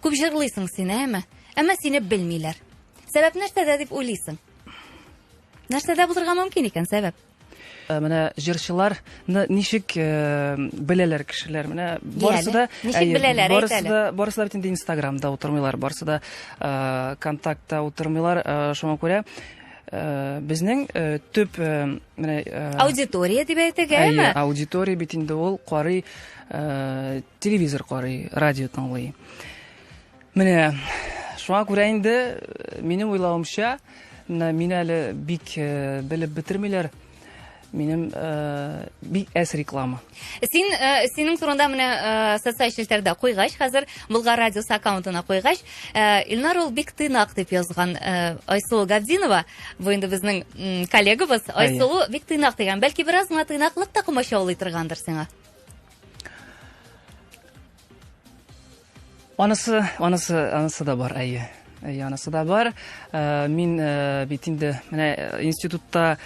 Күп җырлыйсың син, әме? Әмма сине белмиләр. Сәбәп нәрсәдә дип уйлыйсың? Нәрсәдә булырга мөмкин икән сәбәп? Э, менә җырчыларны ничек э, беләләр кешеләр менә барысы да ничек э, беләләр барысы да барысы да бит инде инстаграмда утырмыйлар барысы да контактта утырмыйлар шуңа күрә безнең төп менә аудитория дип әйтик әме аудитория бит инде ул карый Телевизор карый, радио тыңлый. Менә шуңа күрә инде э, минем уйлавымча, мин әле бик э, белеп бетермиләр минем э, бик әс реклама. Син э, синең турында менә э, социаль челтәрдә куйгач, хәзер Булгар радиосы аккаунтына куйгач, э, Илнар ул бик тыйнак дип язган э, Айсулу Габдинова, бу инде безнең коллегабыз Айсулу бик тыйнак дигән. Бәлки бераз гына тыйнаклык та комачаулый торгандыр сиңа. Анысы, анысы, анысы да бар, әйе. Әйе, анысы да бар. Э, мин э, бит инде менә э, институтта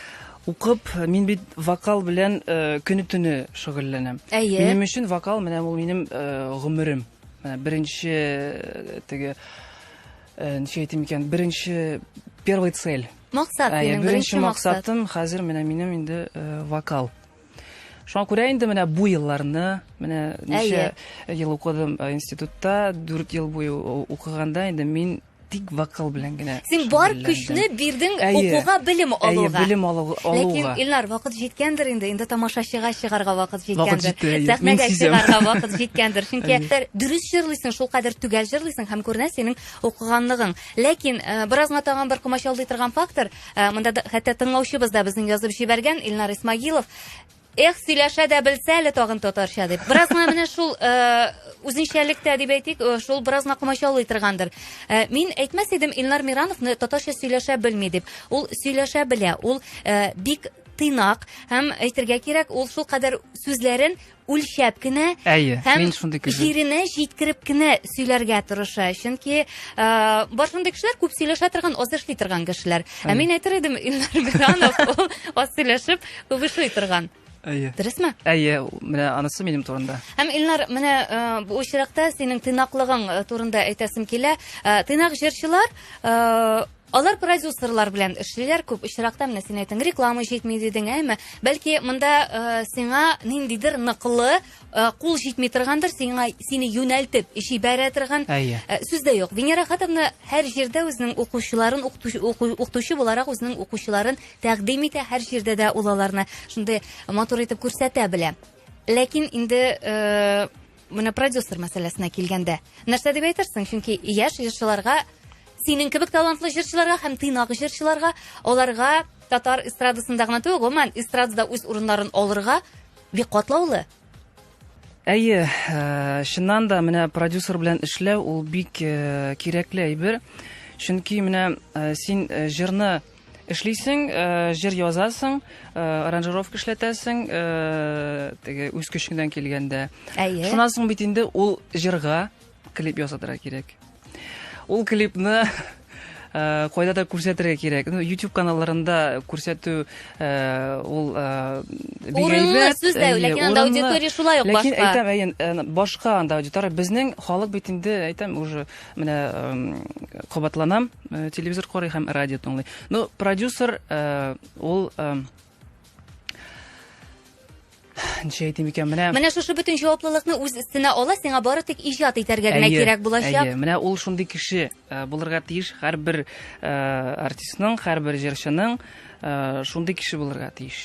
укып, мин бит вокал белән көне төне шөгыльләнәм. Әйе. Минем өчен вокал менә ул минем гомерем. Менә беренче теге ничә әйтим икән, беренче первый цель. Максат, минем беренче максатым хәзер менә минем инде вокал. Шуңа күрә инде менә бу елларны, менә ничә ел укыдым э, институтта, дүрт ел буе укыганда инде мин тик вокал белән генә. Син бар көчне бирдең укуга, белем алуга. Әйе, белем алуга. Ләкин Илнар, вакыт җиткәндер инде, инде тамашачыга чыгарга вакыт җиткәндер. Сәхнәгә чыгарга вакыт җиткәндер. Чөнки дөрес җырлыйсың, шул кадәр төгәл җырлыйсың һәм күренә синең укыганлыгың. Ләкин э, беразга тагын бер комачаулый торган фактор, Ә, монда да, хәтта тыңлаучыбыз да безнең язып җибәргән, Илнар Исмагилов. Эх, сөйләшә дә белсә әле тагын татарча дип. Бераз гына менә шул э, үзенчәлек тә дип әйтик, э, шул бераз гына комачаулый торгандыр. Э, мин әйтмәс идем Илнар Мирановны татарча сөйләшә белми дип. Ул сөйләшә белә, ул э, бик тыйнак һәм әйтергә кирәк, ул шул кадәр сүзләрен үлчәп кенә әйе мин шундый кеше җиренә җиткереп кенә сөйләргә тырыша чөнки бар шундый кешеләр күп сөйләшә торган аз эшли торган кешеләр ә мин әйтер идем илнар биранов ул аз сөйләшеп күп эшли торган әйе дөресме әйе менә анысы минем турында һәм илнар менә бу очракта синең тыйнаклыгың турында әйтәсем килә тыйнак җырчылар Алар продюсерлар белән эшлиләр, күп очракта менә син әйтең, реклама җитми дидең, әйме? Бәлки монда э, сиңа ниндидер ныклы э, кул җитми торгандыр, сиңа сине юнәлтеп җибәрә торган Әйе. э, сүз дә юк. Венера Хатовна һәр җирдә үзенең укучыларын укытучы уку- укытучы буларак үзенең укучыларын тәкъдим итә, һәр җирдә дә ул аларны шундый матур итеп күрсәтә белә. Ләкин инде э, Менә продюсер мәсьәләсенә килгәндә, нәрсә дип әйтерсең? Чөнки яшь җырчыларга, синең кебек талантлы җырчыларга һәм тыйнак җырчыларга, аларга татар эстрадасында гына түгел, гомумән эстрадада үз урыннарын алырга бик катлаулы. Әйе, э, чыннан да менә продюсер белән эшләү ул бик э, кирәкле әйбер. Чөнки менә э, син э, җырны Эшлисең, э, җыр язасың, э, аранжировка эшләтәсең, э, теге үз көчеңнән килгәндә. Әйе. Шуннан соң бит инде ул җырга клип ясатырга кирәк. Ул клипны Э, кайда да күрсәтергә кирәк ну YouTube каналларында күрсәтү э, ул э, урынлы сүз дә ләкин анда аудитория шулай ук башка ләкин әйтәм башка анда аудитория безнең халык бит инде әйтәм уже Менә кабатланам, телевизор карый һәм радио тыңлый. Ну, продюсер ул ничә әйтим икән менә менә шушы бөтен җаваплылыкны үз өстенә ала сиңа бары тик иҗат итәргә генә кирәк булачак әйе менә ул шундый кеше э, булырга тиеш һәрбер э, артистның һәрбер җырчының э, шундый кеше булырга тиеш